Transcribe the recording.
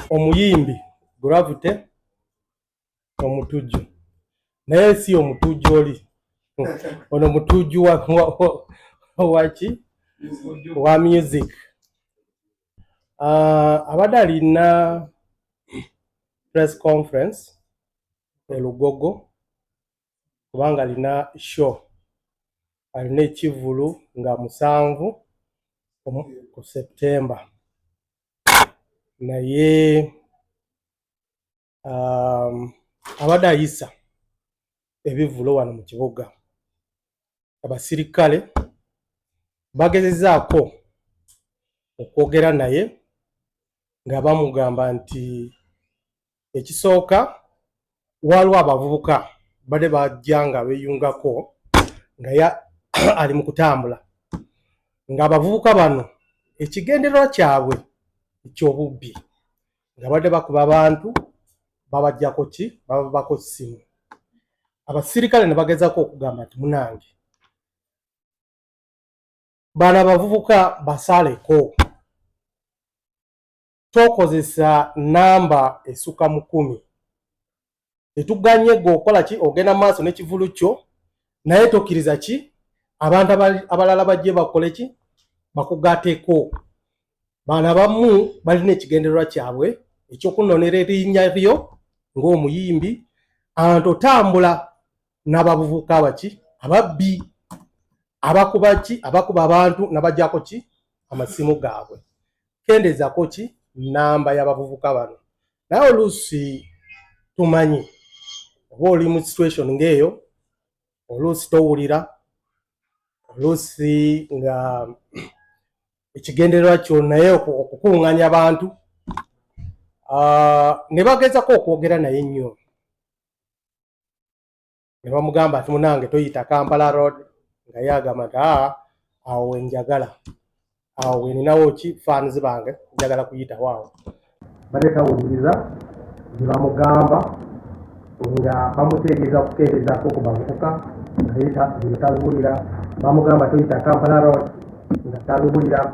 omuyimbi Gravity omutujju naye si omutujju oli ono mutujju waki wa music ah, abadde alina press conference elugogo kubanga alina show alina ekivvulu nga musanvu ku septemba naye um, abadde ayisa ebivvulu wano mu kibuga abasirikale bagezezaako okwogera naye nga bamugamba nti ekisooka waliwo abavubuka bade bajja nga beyungako nga ya ali mu kutambula ng'abavubuka bano ekigendererwa kyabwe eky'obubbi nga badde bakuba abantu babajjako ki bababako ssimu abasirikale ne bagezako okugamba nti munange bano abavubuka basaaleko tokozesa namba esuka mu kumi tetuganye gwe okola ki ogenda maaso nekivulu kyo naye tokiriza ki abantu abalala bajje bakole ki bakugateko baana bamu balina ekigendererwa kyabwe ekyokunonera erinnya lyo ngaomuyimbi anti otambula n'abavubuka abaki ababbi abakuba ki abakuba abantu nabajako ki amasimu gaabwe kendezako ki namba y'abavubuka bano naye oluusi tumanyi oba oli mu situation ng'eyo oluusi towulira oluusi nga ekigendererwa kyo naye okukuŋŋanya abantu ah, ne bagezako okwogera naye nnyo ne bamugamba ati munange toyita kampala road nga ye agamba nti aa awo wenjagala awo weninawo ki fans bange njagala kuyitawo awo bade tawuliriza gyebamugamba nga bamutegeeza kukeerezaako ku bavubuka naye tabiwulira bamugamba toyita kampala road nga tabiwulira